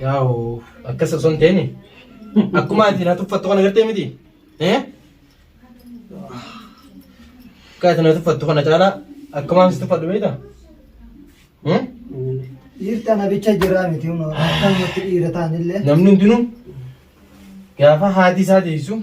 Yaa'u akkas osoo hin ta'in akkuma ati na tuffattu kana gartee miti. Eh? Akka ati na tuffattu kana caalaa akkuma ani si tuffadhu beekta? Eh? Dhiirta na bicha jiraa miti huno akkanumatti dhiira taanillee. Namni hundinuu gaafa haati isaa deessu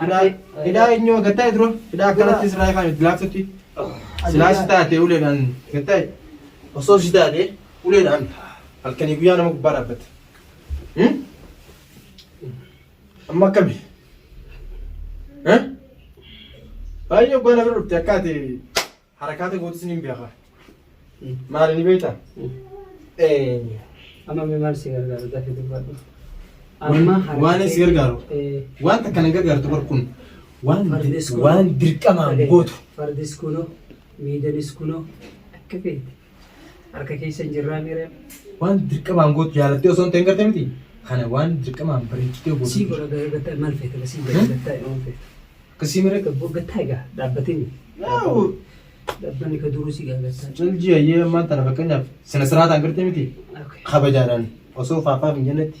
Hidhaa hidhaa eenyu gatta'e dura hidhaa akkanatti sirraa ifaan itti laaftutti silaa si taate uleedhaan gatta'e osoo si taate uleedhaan halkanii guyyaa nama gubbaa dhaabbata. Hmm? Amma akkami? Eh? Baay'ee oggaa na bira dhufte akka ati Harakaata gootis nin beeka. Maali ni beekta? Ee. Amma mee maal si gargaaru dafii dubbadhu. Amma harka Waan si kee- gargaaru. Ee. Waan takka na gargaartu bar kun. Waan Fardis kun- waan dirqamaan gootu. Fardis kunoo, miidanis kunoo akka feete. Harka keessa hin jirraa miira. Waan dirqamaan gootu jaalattee osoo hin ta'in garte miti. Kana waan dirqamaan bareechitee gootu. Sii godha gahee gattaa maal feete basii gahee gattaa yoo feete. Akkasii mire. Gattaa egaa dhaabbatini. Dhaabbanni ka duruu si gaagattaa. Ciljii ayyee ammaan tana fakkeenyaaf sina siraataan garte miti. Kabajaadhaan osoo faafaaf hin jennetti.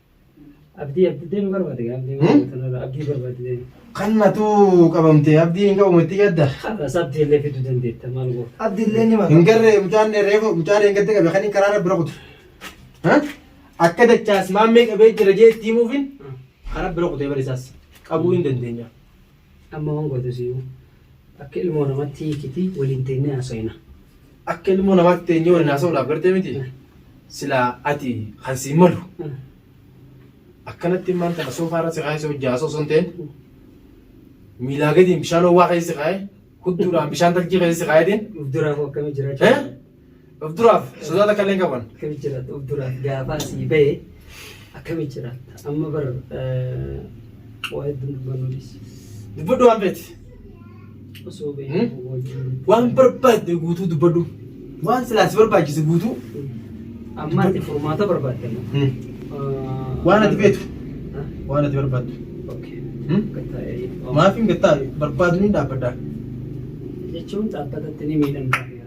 Abdii abdii deemu barbaade gaa abdii Hmm? barbaade abdii barbaade deemu. Kan natu qabamte abdii hin qabamu itti gadda. Har'as abdii illee fiduu dandeetta maal goota. Abdi illee ni Hin mata. garree mucaan reefu mucaa reengatte qabe kan hin karaara bira kutu. Ha? Akka dachaas maammee qabee jira jee itti himuufin kara bira kutee barisaas qabuu hin dandeenya. Amma wan gotu siyu akka ilmoo namatti hiikiti waliin teennee haasawina. Akka ilmoo namaatti teenyee waliin haasawuudhaaf gartee miti silaa ati kan siin malu akkanatti immaan kana soofaa irra si kaa'ee si hojjaa haasoo osoo hin ta'in miilaa gadiin bishaan owwaa keessa si kaa'ee hudduudhaan bishaan tarjii keessa si kaa'eetiin Uf duraafuu akkamii jiraachuu Eh? danda'a? Of duraaf sodaa takka illee hin qaban. Akkami jiraata of duraaf gaafa asii ba'e akkami jiraata amma bar eh, waa hedduun dubbannuunis Dubbadhu waan feeti. osoo Hmm? beeku wajjin Waan barbaadde guutuu dubbadhu. Waan silaa si barbaachise guutuu. amma ati furmaata barbaadde amma. Eh, Waan ati beektu. Ah, Waan ati barbaaddu. okay. Hmm? Akka ta'e, oh. Maaf hin gattaa barbaadu ni dhaabbaddaa. jechuun dhaabbatatti ni miidhamta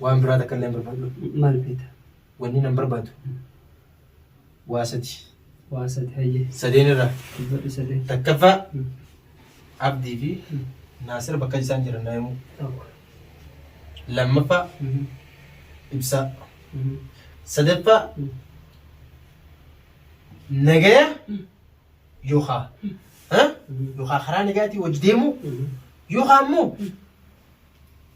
Waan biraa takka illee hin barbaadu. Maal feeta? Wanni nan barbaadu waa sadi. Waa sadi hayyee. Sadeen irraa Dubbadhu sadeen. takkaffaa Abdii fi Naasir bakka isaan jiran naa himuu. Tokko. Lammaffaa Mhm. ibsaa. Mhm. Sadaffaa Mhm. nagaya yookaa ha? Mhm. yookaa karaa nagayaatiin wajji deemuu Mhm. yookaa immoo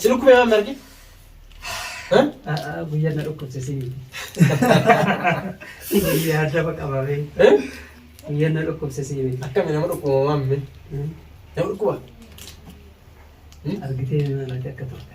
Si dhukkubee waan margi? Guyyaan na dhukkubsisee miti. Guyyaa daba qabamee. Guyyaan na dhukkubsisee miti. Akkami nama dhukkuba maamme? Nama dhukkuba? Argitee maal akka turte.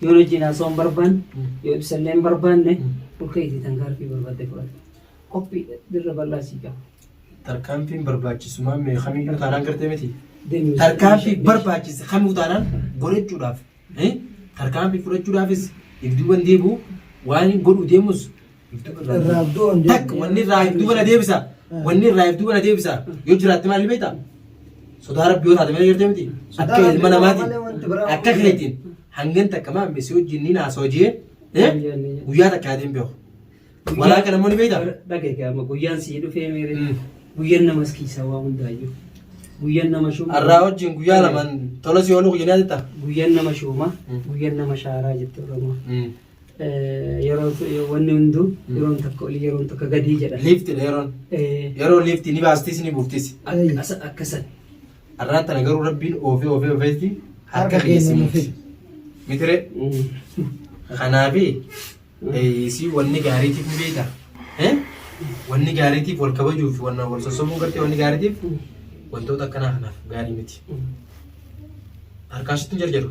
Yoon wajjin haasa'uu hin barbaanne, yoo ibsa illee hin barbaanne, ol ka'iitii tankaarfii barbaadde fudhadhu. Qophiidha, dirra bal'aa sii qaba. Tarkaanfiin barbaachisumaa mee kamiyyuu taanaan gartee miti. Deemuu Tarkaanfii ishee- barbaachise kamuu taanaan godhachuudhaaf eh, tarkaanfii fudhachuudhaafis ibdiiwwan deebi'u waan godhu deemus Irraa du'a hin Takk deebi'u. wanni irraa if duuba na deebisa. Wanni irraa if duuba na deebisa. Yoo jiraatte maal beekta? Sodaa rabbi yoo taate malee jirte miti. Sodaa Akka Rabbii ilma malee wanti namaatiin biraa akka waan- keetiin hangan takka maa misi wajjin ni naasoo jee eh, guyyaa takka yaadee hin beeku. Walaa kana immoo ni beekta? Dhagayke amma guyyaan sii dhufee meeree. Mm. Guyyaan nama askiisaa waa hundaayyuu. Guyyaan nama shuuma. Har'aa wajjin guyyaa lamaan tola si ooluu guyyaan yaadatta? Guyyaan nama shuuma. Mm. Guyyaan nama shaaraa jette Oromoo. Mm. Yeroo wanni hunduu yeroon takka olii yeroon takka gadii jedha. Liifti dha yeroon. Eh, Yeroo liifti ni baastis ni buuftis. Akkas akkasan. Arraan tana garuu rabbiin oofee oofee oofeetti harka keessi muti. Mitire kanaafi isii wanni gaariitiif ni beekta. Eh? Wanni gaariitiif wal kabajuuf wanna wal sossobuun gartee wanni gaariitiif wantoota akkanaa kanaaf gaarii miti. Harkaashitti hin jarjaru.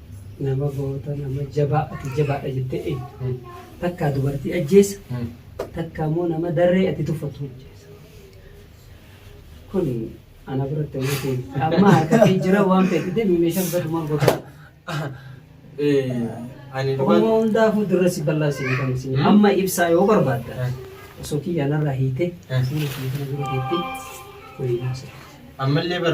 nama goota nama jabaa ati jabaadha jettee eegdu takkaa dubartii ajjeessa takkaa immoo nama darree ati tuffatu ajjeessa kun ana biratti waan ta'eef amma harkatti jira waan ta'eef deemi meeshaa biratti maal goota Ani Oromoo dhugaan hundaafuu dirra si bal'aasee beekamu si amma ibsaa yoo barbaadda osoo kiyyaanarraa hiite Eh. siina kiyya kana dura deettee waliin haasa'e. ammallee bar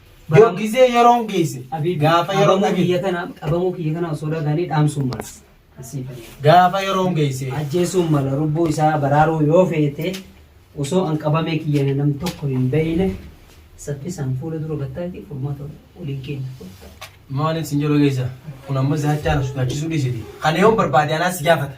Yoo gizee yeroon geesse gaafa yeroon dhageesse. kiyya kana qabamuu kiyya kana osoo dhagahanii dhaamsuun mala. Asii fayyaa. Gaafa yeroon geesse. Ajjeesuun mala lubbuu isaa baraaruu yoo feete osoo an qabamee kiyyan nam tokko hin beeyne saffisaan fuula dura gattaatii furmaata waliin keenya. Maaliif sin jedhu geessa? Kun amma isa hachaan sodaachisuu dhiisiti. Kan yoon barbaade anaas gaafata.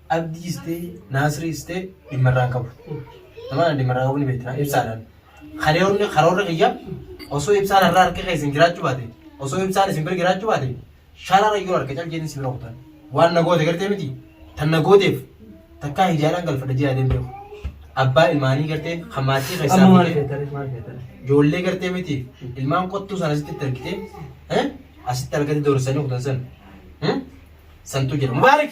Abdiis ta'e Naasiriis ta'e dhimma irraa hin qabu. Nama kana dhimma irraa qabu ni beekna ibsaadhaan. Karoorri karoorri kiyya osoo ibsaan har'a harka keessa hin jiraachuu baate osoo ibsaan isin bira jiraachuu baate sharara yoo harka cal jedhin si bira kutan. Waan na goote gartee miti tan na gooteef takkaa hijaadhaan galfadha jedhaa deemtee kun. Abbaa ilmaanii gartee kan maatii keessaa Amma maal fuutee- feetare maal feetare. ijoollee gartee miti ilmaan qottuu sana asitti itti argitee eh? asitti argate doorsisanii kutan san eh? santu jira mubaarik